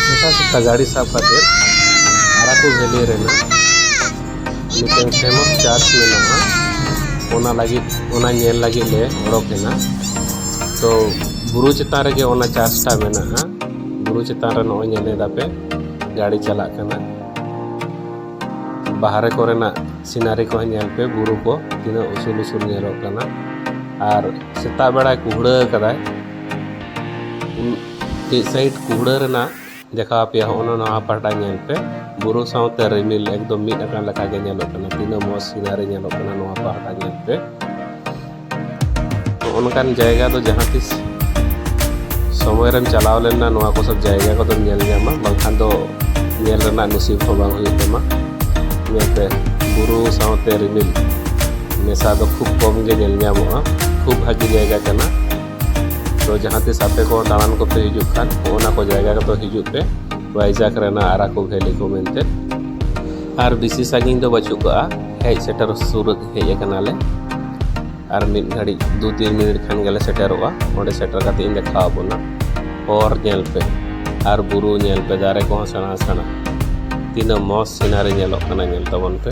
ᱥᱮᱛᱟ ᱥᱮᱛᱟ ᱜᱟᱹᱰᱤ ᱥᱟᱵ ᱠᱟᱛᱮ ᱟᱨᱟᱠᱩ ᱵᱷᱮᱞᱤ ᱨᱮᱱᱟᱜ ᱢᱤᱫᱴᱟᱝ ᱯᱷᱮᱢᱚᱥ ᱪᱟᱨᱪ ᱢᱮᱱᱟᱜᱼᱟ ᱚᱱᱟ ᱞᱟᱹᱜᱤᱫ ᱚᱱᱟ ᱧᱮᱞ ᱞᱟᱹᱜᱤᱫ ᱞᱮ ᱚᱰᱚᱠ ᱮᱱᱟ ᱛᱚ ᱵᱩᱨᱩ ᱪᱮᱛᱟᱱ ᱨᱮᱜᱮ ᱚᱱᱟ ᱪᱟᱨᱪᱴᱟ ᱢᱮᱱᱟᱜᱼᱟ ᱵᱩᱨᱩ ᱪᱮᱛᱟᱱ ᱨᱮ ᱱᱚᱜᱼᱚᱭ ᱧᱮᱞ ᱮᱫᱟᱯᱮ ᱜᱟᱹᱰᱤ ᱪᱟᱞᱟᱜ ᱠᱟᱱᱟ ᱵᱟᱦᱨᱮ ᱠᱚᱨᱮᱱᱟᱜ ᱥᱤᱱᱟᱨᱤ ᱠᱚ ᱧᱮᱞ ᱯᱮ ᱵᱩᱨᱩ ᱠᱚ ᱛᱤᱱᱟᱹᱜ ᱩᱥᱩᱞ ᱩᱥᱩᱞ ᱧᱮᱞᱚᱜ ᱠᱟᱱᱟ ᱟᱨ ᱥᱮᱛᱟᱜ ᱵᱮᱲᱟᱭ ᱠᱩᱦᱲᱟᱹ ᱟᱠᱟᱫᱟᱭ ᱢᱤᱫ ᱥᱟᱭᱤᱰ ᱠᱩᱢᱲᱟᱹ ᱨᱮᱱᱟᱜ ᱫᱮᱠᱷᱟᱣ ᱟᱯᱮᱭᱟ ᱦᱚᱸᱜᱼᱚ ᱱᱚᱣᱟ ᱯᱟᱦᱴᱟ ᱧᱮᱞ ᱯᱮ ᱵᱩᱨᱩ ᱥᱟᱶᱛᱮ ᱨᱤᱢᱤᱞ ᱮᱠᱫᱚᱢ ᱢᱤᱫ ᱟᱠᱟᱱ ᱞᱮᱠᱟ ᱜᱮ ᱧᱮᱞᱚᱜ ᱠᱟᱱᱟ ᱛᱤᱱᱟᱹᱜ ᱢᱚᱡᱽ ᱥᱤᱱᱟᱨᱤ ᱧᱮᱞᱚᱜ ᱠᱟᱱᱟ ᱱᱚᱣᱟ ᱯᱟᱦᱴᱟ ᱧᱮᱞ ᱯᱮ ᱦᱚᱸᱜᱼᱚ ᱱᱚᱝᱠᱟᱱ ᱡᱟᱭᱜᱟ ᱫᱚ ᱡᱟᱦᱟᱸ ᱛᱤᱥ ᱥᱚᱢᱚᱭ ᱨᱮᱢ ᱪᱟᱞᱟᱣ ᱞᱮᱱᱟ ᱱᱚᱣᱟ ᱠᱚ ᱥᱚᱵ ᱡᱟᱭᱜᱟ ᱠᱚᱫᱚᱢ ᱧᱮᱞ ᱧᱟᱢᱟ ᱵᱟᱝᱠᱷᱟᱱ ᱫᱚ ᱧᱮᱞ ᱨᱮᱱᱟᱜ ᱱᱩᱥᱤᱵ ᱦᱚᱸ ᱵᱟᱝ ᱦᱩᱭᱩᱜ ᱛᱟᱢᱟ ᱧᱮᱞ ᱯᱮ ᱵᱩᱨᱩ ᱥᱟᱶᱛᱮ ᱨᱤᱢᱤᱞ ᱢᱮᱥᱟ ᱫᱚ ᱠᱷᱩᱵ ᱠᱚᱢ ᱜᱮ ᱧᱮᱞ ᱧᱟᱢᱚᱜᱼᱟ ᱠᱷᱩᱵ ᱵᱷᱟᱹᱜᱤ ᱡᱟᱭᱜᱟ ᱠᱟᱱᱟ ᱛᱚ ᱡᱟᱦᱟᱸ ᱛᱤᱥ ᱟᱯᱮ ᱠᱚ ᱫᱟᱬᱟᱱ ᱠᱚᱯᱮ ᱦᱤᱡᱩᱜ ᱠᱷᱟᱱ ᱚᱱᱟ ᱠᱚ ᱡᱟᱭᱜᱟ ᱨᱮᱫᱚ ᱦᱤᱡᱩᱜ ᱯᱮ ᱵᱟᱭᱡᱟᱠ ᱨᱮᱱᱟᱜ ᱟᱨᱟᱠᱩ ᱵᱷᱮᱞᱤ ᱠᱚ ᱢᱮᱱᱛᱮ ᱟᱨ ᱵᱮᱥᱤ ᱥᱟᱺᱜᱤᱧ ᱫᱚ ᱵᱟᱹᱪᱩᱜ ᱠᱟᱜᱼᱟ ᱦᱮᱡ ᱥᱮᱴᱮᱨ ᱥᱩᱨ ᱦᱮᱡ ᱟᱠᱟᱱᱟᱞᱮ ᱟᱨ ᱢᱤᱫ ᱜᱷᱟᱹᱲᱤᱡ ᱫᱩ ᱛᱤᱱ ᱢᱤᱱᱤᱴ ᱠᱷᱟᱱ ᱜᱮᱞᱮ ᱥᱮᱴᱮᱨᱚᱜᱼᱟ ᱚᱸᱰᱮ ᱥᱮᱴᱮᱨ ᱠᱟᱛᱮ ᱤᱧ ᱫᱮᱠᱷᱟᱣ ᱟᱵᱚᱱᱟ ᱦᱚᱨ ᱧᱮᱞ ᱯᱮ ᱟᱨ ᱵᱩᱨᱩ ᱧᱮᱞ ᱯᱮ ᱫᱟᱨᱮ ᱠᱚᱦᱚᱸ ᱥᱮᱬᱟ ᱥᱮᱬᱟ ᱛᱤᱱᱟᱹᱜ ᱢᱚᱡᱽ ᱥᱤᱱᱟᱨᱤ ᱧᱮᱞᱚᱜ ᱠᱟᱱᱟ ᱧᱮᱞ ᱛᱟᱵᱚᱱ ᱯᱮ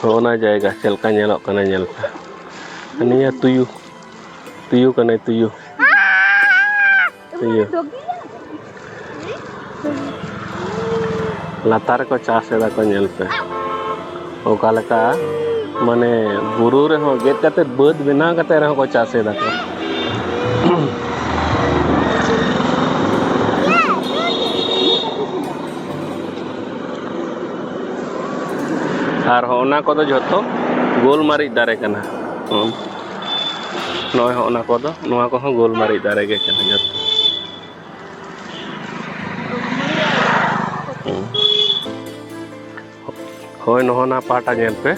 ᱦᱚᱸᱜᱼᱱᱟ ᱡᱟᱭᱜᱟ ᱪᱮᱫ ᱞᱮᱠᱟ ᱧᱮᱞᱚᱜ ᱠᱟᱱᱟ ᱧᱮᱞ ᱯᱮ ᱱᱤᱭᱟᱹ ᱛᱩᱭᱩ ᱛᱩᱭᱩ ᱠᱟᱱᱟᱭ ᱛᱩᱭᱩ ᱛᱩᱭᱩ ᱞᱟᱛᱟᱨ ᱨᱮᱠᱚ ᱪᱟᱥ ᱮᱫᱟ ᱠᱚ ᱧᱮᱞ ᱯᱮ ᱚᱠᱟ ᱞᱮᱠᱟ ᱢᱟᱱᱮ ᱵᱩᱨᱩ ᱨᱮᱦᱚᱸ ᱜᱮᱫ ᱠᱟᱛᱮ ᱵᱟᱹᱫᱽ ᱵᱮᱱᱟᱣ ᱠᱟᱛᱮ ᱨᱮᱦᱚᱸ ᱠᱚ ᱪᱟᱥ ᱮᱫᱟ ᱠᱚ ᱟᱨ ᱦᱚᱸᱜᱼᱱᱟ ᱠᱚᱫᱚ ᱡᱷᱚᱛᱚ ᱜᱳᱞ ᱢᱟᱹᱨᱤᱪ ᱫᱟᱨᱮ ᱠᱟᱱᱟ ᱱᱚᱜᱼᱚᱭ ᱦᱚᱸᱜᱼᱱᱟ ᱠᱚᱫᱚ ᱱᱚᱣᱟ ᱠᱚᱦᱚᱸ ᱜᱳᱞ ᱢᱟᱹᱨᱤᱪ ᱫᱟᱨᱮ ᱜᱮ ᱠᱟᱱᱟ ᱡᱷᱚᱛᱚ ᱦᱳᱭ ᱱᱚᱜᱼᱚ ᱱᱟ ᱯᱟᱦᱴᱟ ᱧᱮᱞ ᱯᱮ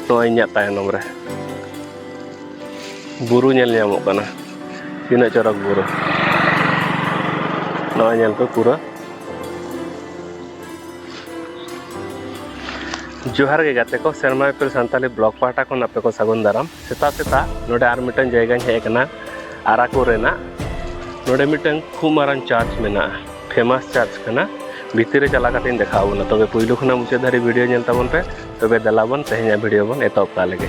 ᱱᱚᱣᱟ ᱤᱧᱟᱹᱜ ᱛᱟᱭᱱᱚᱢ ᱨᱮ ᱵᱩᱨᱩ ᱧᱮᱞ ᱧᱟᱢᱚᱜ ᱠᱟᱱᱟ ᱛᱤᱱᱟᱹᱜ ᱪᱚᱨᱚᱠ ᱵᱩᱨᱩ ᱱᱚᱣᱟ ᱧᱮᱞ ᱯᱮ ᱯᱩᱨᱟᱹ ᱡᱚᱦᱟᱨ ᱜᱮ ᱜᱟᱛᱮ ᱠᱚ ᱥᱮᱨᱢᱟ ᱤᱯᱤᱞ ᱥᱟᱱᱛᱟᱞᱤ ᱵᱞᱚᱜᱽ ᱯᱟᱦᱴᱟ ᱠᱷᱚᱱ ᱟᱯᱮ ᱠᱚ ᱥᱟᱹᱜᱩᱱ ᱫᱟᱨᱟᱢ ᱥᱮᱛᱟᱜ ᱥᱮᱛᱟᱜ ᱱᱚᱰᱮ ᱟᱨ ᱢᱤᱫᱴᱟᱝ ᱡᱟᱭᱜᱟᱧ ᱦᱮᱡ ᱟᱠᱟᱱᱟ ᱟᱨᱟᱠᱳ ᱨᱮᱱᱟᱜ ᱱᱚᱰᱮ ᱢᱤᱫᱴᱟᱝ ᱠᱷᱩᱵ ᱢᱟᱨᱟᱝ ᱪᱟᱨᱪ ᱢᱮᱱᱟᱜᱼᱟ ᱯᱷᱮᱢᱟᱥ ᱪᱟᱨᱪ ᱠᱟᱱᱟ ᱵᱷᱤᱛᱤᱨ ᱨᱮ ᱪᱟᱞᱟᱣ ᱠᱟᱛᱮᱧ ᱫᱮᱠᱷᱟᱣ ᱵᱚᱱᱟ ᱛᱚᱵᱮ ᱯᱩᱭᱞᱩ ᱠᱷᱚᱱᱟᱜ ᱢᱩᱪᱟᱹᱫ ᱫᱷᱟᱹᱨᱤᱡ ᱵᱷᱤᱰᱤᱭᱳ ᱧᱮᱞ ᱛᱟᱵᱚᱱ ᱯᱮ ᱛᱚᱵᱮ ᱫᱮᱞᱟ ᱵᱚᱱ ᱛᱮᱦᱮᱧᱟᱜ ᱵᱷᱤᱰᱤᱭᱳ ᱵᱚᱱ ᱮᱛᱚᱦᱚᱵ ᱠᱟᱜ ᱞᱮᱜᱮ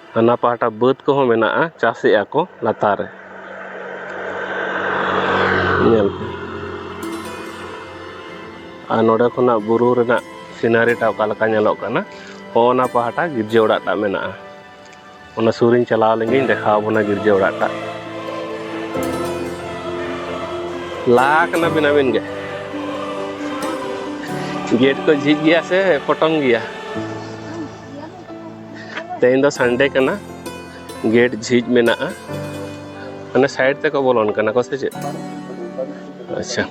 ᱦᱟᱱᱟ ᱯᱟᱦᱴᱟ ᱵᱟᱹᱫᱽ ᱠᱚᱦᱚᱸ ᱢᱮᱱᱟᱜᱼᱟ ᱪᱟᱥᱮᱜᱼᱟ ᱠᱚ ᱞᱟᱛᱟᱨ ᱨᱮ ᱧᱮᱞ ᱯᱮ ᱟᱨ ᱱᱚᱰᱮ ᱠᱷᱚᱱᱟᱜ ᱵᱩᱨᱩ ᱨᱮᱱᱟᱜ ᱥᱤᱱᱟᱨᱤᱴᱟ ᱚᱠᱟ ᱞᱮᱠᱟ ᱧᱮᱞᱚᱜ ᱠᱟᱱᱟ ᱚᱱᱟ ᱯᱟᱦᱴᱟ ᱜᱤᱨᱡᱟᱹ ᱚᱲᱟᱜ ᱴᱟᱜ ᱢᱮᱱᱟᱜᱼᱟ ᱚᱱᱟ ᱥᱩᱨᱤᱧ ᱪᱟᱞᱟᱣ ᱞᱮᱱᱜᱤᱧ ᱫᱮᱠᱷᱟᱣ ᱵᱚᱱᱟ ᱜᱤᱨᱡᱟᱹ ᱚᱲᱟᱜ ᱴᱟᱜ ᱞᱟ ᱠᱟᱱᱟ ᱵᱤᱱᱟᱵᱤᱱ ᱜᱮ ᱜᱮᱴ ᱠᱚ ᱡᱷᱤᱡ ᱜᱮᱭᱟ ᱥᱮ ᱯᱚᱴᱚᱢ ᱜᱮᱭᱟ ᱛᱮᱦᱮᱧ ᱫᱚ ᱥᱟᱱᱰᱮ ᱠᱟᱱᱟ ᱜᱮᱴ ᱡᱷᱤᱡ ᱢᱮᱱᱟᱜᱼᱟ ᱢᱟᱱᱮ ᱥᱟᱭᱤᱰ ᱛᱮᱠᱚ ᱵᱚᱞᱚᱱ ᱠᱟᱱᱟ ᱠᱚ ᱥᱮ ᱪᱮᱫ ᱟᱪᱪᱷᱟ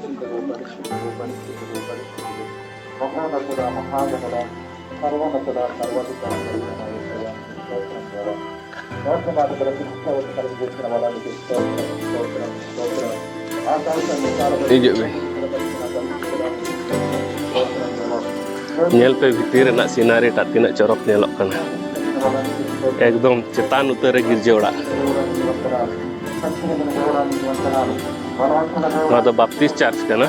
ᱦᱤᱡᱩᱜ ᱵᱤᱱ ᱧᱮᱞ ᱯᱮ ᱵᱷᱤᱛᱤᱨ ᱨᱮᱱᱟᱜ ᱥᱤᱱᱟᱨᱤ ᱴᱟᱜ ᱛᱤᱱᱟᱹᱜ ᱪᱚᱨᱚᱠ ᱧᱮᱞᱚᱜ ᱠᱟᱱᱟ ᱮᱠᱫᱚᱢ ᱪᱮᱛᱟᱱ ᱩᱛᱟᱹᱨ ᱨᱮ ᱜᱤᱨᱡᱟᱹ ᱚᱲᱟᱜ ᱱᱚᱣᱟ ᱫᱚ ᱵᱟᱯᱴᱤᱥ ᱪᱟᱨᱪ ᱠᱟᱱᱟ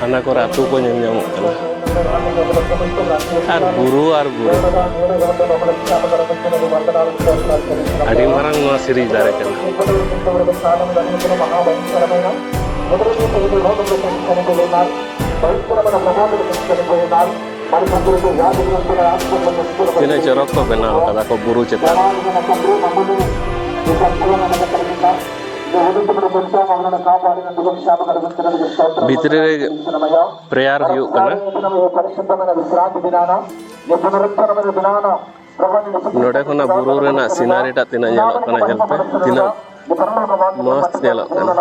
ᱦᱟᱱᱟ ᱠᱚᱨᱮ ᱟᱹᱛᱩ ᱠᱚ ᱧᱮᱞ ᱧᱟᱢᱚᱜ ᱠᱟᱱᱟ ᱟᱨ ᱵᱩᱨᱩ ᱟᱨ ᱵᱩᱨᱩ ᱟᱹᱰᱤ ᱢᱟᱨᱟᱝ ᱱᱚᱣᱟ ᱥᱤᱨᱤᱡ ᱫᱟᱨᱮ ᱠᱟᱱᱟ ᱛᱤᱱᱟᱹᱜ ᱪᱚᱨᱚᱠ ᱠᱚ ᱵᱮᱱᱟᱣ ᱠᱟᱫᱟ ᱠᱚ ᱵᱩᱨᱩ ᱪᱮᱛᱟᱱ ᱵᱷᱤᱛᱨᱤ ᱨᱮ ᱯᱨᱮᱭᱟᱨ ᱦᱩᱭᱩᱜ ᱠᱟᱱᱟ ᱱᱚᱰᱮ ᱠᱷᱚᱱᱟᱜ ᱵᱩᱨᱩ ᱨᱮᱱᱟᱜ ᱥᱤᱱᱟᱨᱤ ᱴᱟᱜ ᱛᱤᱱᱟᱹᱜ ᱧᱮᱞᱚᱜ ᱠᱟᱱᱟ ᱧᱮᱞ ᱯᱮ ᱛᱤᱱᱟᱹᱜ ᱢᱚᱡᱽ ᱧᱮᱞᱚᱜ ᱠᱟᱱᱟ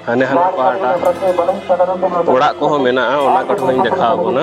ᱦᱟᱱᱮ ᱦᱟᱱᱟ ᱯᱟᱦᱴᱟ ᱚᱲᱟᱜ ᱠᱚᱦᱚᱸ ᱢᱮᱱᱟᱜᱼᱟ ᱚᱱᱟ ᱠᱚᱴᱷᱮᱱ ᱦᱚᱧ ᱫᱮᱠᱷᱟᱣ ᱵᱚᱱᱟ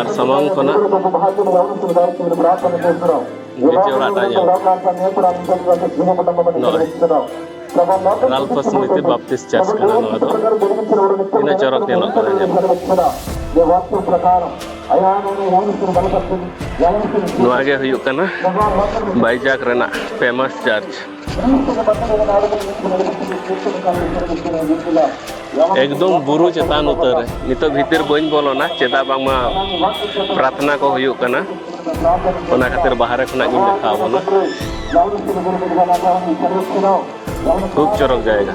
ᱟᱨ ᱥᱟᱢᱟᱝ ᱠᱷᱚᱱᱟᱜ ᱵᱤᱴᱤ ᱚᱲᱟᱜ ᱴᱟᱜ ᱧᱮᱞ ᱱᱚᱜᱼᱚᱭ ᱨᱟᱞᱯᱷᱟ ᱥᱢᱤᱛᱤ ᱵᱟᱯᱛᱤᱥ ᱪᱟᱨᱪ ᱠᱟᱱᱟ ᱱᱚᱣᱟ ᱫᱚ ᱛᱤᱱᱟᱹᱜ ᱪᱚᱨᱚᱠ ᱧᱮᱞᱚᱜ ᱠᱟᱱᱟ ᱧᱮᱞ ᱱᱚᱣᱟ ᱜᱮ ᱦᱩᱭᱩᱜ ᱠᱟᱱᱟ ᱵᱟᱭᱡᱟᱜᱽ ᱨᱮᱱᱟᱜ ᱯᱷᱮᱢᱟᱥ ᱪᱟᱨᱪ ᱮᱠᱫᱚᱢ ᱵᱩᱨᱩ ᱪᱮᱛᱟᱱ ᱩᱛᱟᱹᱨ ᱨᱮ ᱱᱤᱛᱚᱜ ᱵᱷᱤᱛᱤᱨ ᱵᱟᱹᱧ ᱵᱚᱞᱚᱱᱟ ᱪᱮᱫᱟᱜ ᱵᱟᱝᱢᱟ ᱯᱨᱟᱨᱛᱷᱱᱟ ᱠᱚ ᱦᱩᱭᱩᱜ ᱠᱟᱱᱟ ᱚᱱᱟ ᱠᱷᱟᱹᱛᱤᱨ ᱵᱟᱦᱨᱮ ᱠᱷᱚᱱᱟᱜ ᱜᱤᱧ ᱫᱮᱠᱷᱟᱣ ᱵᱚᱱᱟ ᱠᱷᱩᱵ ᱪᱚᱨᱚᱠ ᱡᱟᱭᱜᱟ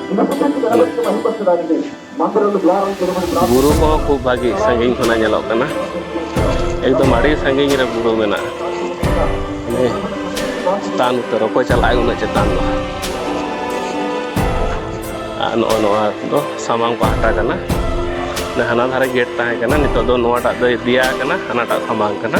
ᱵᱩᱨᱩ ᱠᱚᱦᱚᱸ ᱠᱷᱩᱵ ᱵᱷᱟᱹᱜᱤ ᱥᱟᱺᱜᱤᱧ ᱠᱷᱚᱱᱟᱜ ᱧᱮᱞᱚᱜ ᱠᱟᱱᱟ ᱮᱠᱫᱚᱢ ᱟᱹᱰᱤ ᱥᱟᱺᱜᱤᱧ ᱨᱮ ᱵᱩᱨᱩ ᱢᱮᱱᱟᱜᱼᱟ ᱪᱮᱛᱟᱱ ᱩᱛᱟᱹᱨ ᱚᱠᱚᱭ ᱪᱟᱞᱟᱜᱼᱟᱭ ᱩᱱᱟᱹᱜ ᱪᱮᱛᱟᱱ ᱫᱚ ᱟᱨ ᱱᱚᱜᱼᱚ ᱱᱚᱣᱟ ᱫᱚ ᱥᱟᱢᱟᱝ ᱯᱟᱦᱴᱟ ᱠᱟᱱᱟ ᱦᱟᱱᱟ ᱫᱷᱟᱨᱮ ᱜᱮᱴ ᱛᱟᱦᱮᱸ ᱠᱟᱱᱟ ᱱᱤᱛᱚᱜ ᱫᱚ ᱱᱚᱣᱟᱴᱟᱜ ᱫᱚᱭ ᱫᱮᱭᱟ ᱠᱟᱱᱟ ᱦᱟᱱᱟᱴᱟᱜ ᱥᱟᱢᱟᱝ ᱠᱟᱱᱟ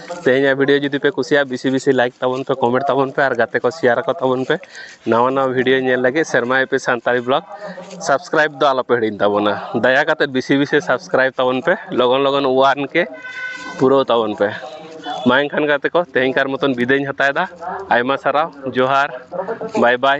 ᱛᱮᱦᱮᱧᱟᱜ ᱵᱷᱤᱰᱭᱳ ᱡᱩᱫᱤ ᱯᱮ ᱠᱩᱥᱤᱭᱟᱜᱼᱟ ᱵᱮᱥᱤ ᱵᱮᱥᱤ ᱞᱟᱭᱤᱠ ᱛᱟᱵᱚᱱ ᱯᱮ ᱠᱚᱢᱮᱱᱴ ᱛᱟᱵᱚᱱ ᱯᱮ ᱟᱨ ᱜᱟᱛᱮ ᱠᱚ ᱥᱮᱭᱟᱨ ᱟᱠᱚ ᱛᱟᱵᱚᱱ ᱯᱮ ᱱᱟᱣᱟ ᱱᱟᱣᱟ ᱵᱷᱤᱰᱭᱳ ᱧᱮᱞ ᱞᱟᱹᱜᱤᱫ ᱥᱮᱨᱢᱟ ᱮᱯᱤ ᱥᱟᱱᱛᱟᱲᱤ ᱵᱞᱚᱜᱽ ᱥᱟᱵᱥᱠᱨᱟᱭᱤᱵᱽ ᱫᱚ ᱟᱞᱚᱯᱮ ᱦᱤᱲᱤᱧ ᱛᱟᱵᱚᱱᱟ ᱫᱟᱭᱟ ᱠᱟᱛᱮᱫ ᱵᱮᱥᱤ ᱵᱮᱥᱤ ᱥᱟᱵᱥᱠᱨᱟᱭᱤᱵᱽ ᱛᱟᱵᱚᱱ ᱯᱮ ᱞᱚᱜᱚᱱ ᱞᱚᱜᱚᱱ ᱚᱣᱟᱱ ᱠᱮ ᱯᱩᱨᱟᱹᱣ ᱛᱟᱵᱚᱱ ᱯᱮ ᱢᱟ ᱮᱱᱠᱷᱟᱱ ᱜᱟᱛᱮ ᱠᱚ ᱛᱮᱦᱮᱧ ᱠᱟᱨ ᱢᱚᱛᱚᱱ ᱵᱤᱫᱟᱹᱭᱤᱧ ᱦᱟᱛᱟᱣᱮᱫᱟ ᱟᱭᱢᱟ ᱥᱟᱨᱦᱟᱣ ᱡᱚᱦᱟᱨ ᱵᱟᱭ ᱵᱟᱭ